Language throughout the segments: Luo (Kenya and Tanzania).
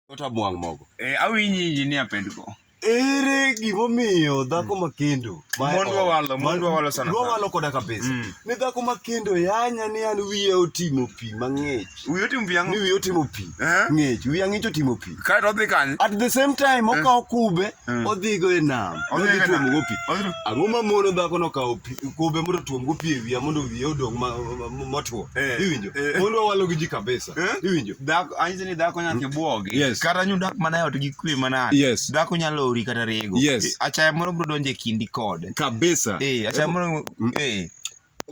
Kata bwang' mogo. Eh, awinji injinia pendgo. Ere gimomiyo dhako ma kendo ma- Mond wawalo, mond wawalo sana sana. Wawalo koda kabisa. Mm. Ni dhako ma kendo yanya ni an wiye otimo pi mang'ich. Wiyi otim Ni viang'o. wiye otimo pi Eh? ng'ich. Wiye ang'ich otimo pi. Kae to odhi kanye. At the same time okawo kube Mm. odhigo e nam. Odhi Odhi e nam. tuomogo pi. Odhi- Ang'o ma mono dhako no kawo pi- kube mondo otuomgo pi e wiya mondo wiye odong ma- ma- ma- motwo. Eh. Iwinjo? Eh. Mondo wawalo gi ji kabisa. Eh? Iwinjo? Dhako anyiso ni dhako nyaka ibuogi. Yes. Kata nyu dak mana e ot gi kwe mana. Yes. Dhako nyalo ori kata rego. Yes. Eh, Achaya moro bro donje kindi kode. Kabisa. Eh, achaya moro eh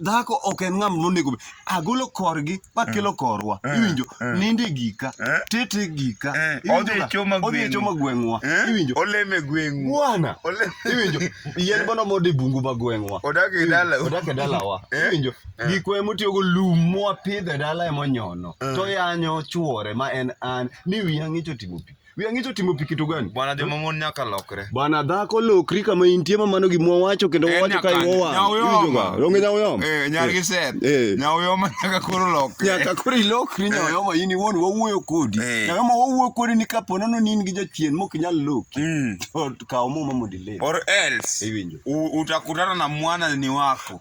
dhako ok en ng'am nonego agolo korgi makelo eh. korwa eh. iwinjo eh. ninde gika tete gika odhi e choma e gweng'wa iwinjo oleme gweng'u bwana iwinjo yien bono mode bungu ma gweng'wa odak e dalawa iwinjo Eh. gikwa emotiyogo lum mwapidho e dala emonyono eh. to yanyo chuore ma en an ni wiya ng'icho timo pi wiya ng'icho timo pi kitu gani bwana joma mon nyaka lokre bwana dhako lokri kama intie ma mano gimwa wacho kendo eh, wacho ka iwowa onge nyawoyoma nyargi set nyawoyoma nyaka koro lokre nyaka koro ilokri nyawoyoma in iwuon wawuoyo kodi nyaka ma wawuoyo kodi ni kapo nono ni in gi jachien mok inyal loki mm. to kaw muma mondo iler or else iwinjo utakutana na mwana ni wako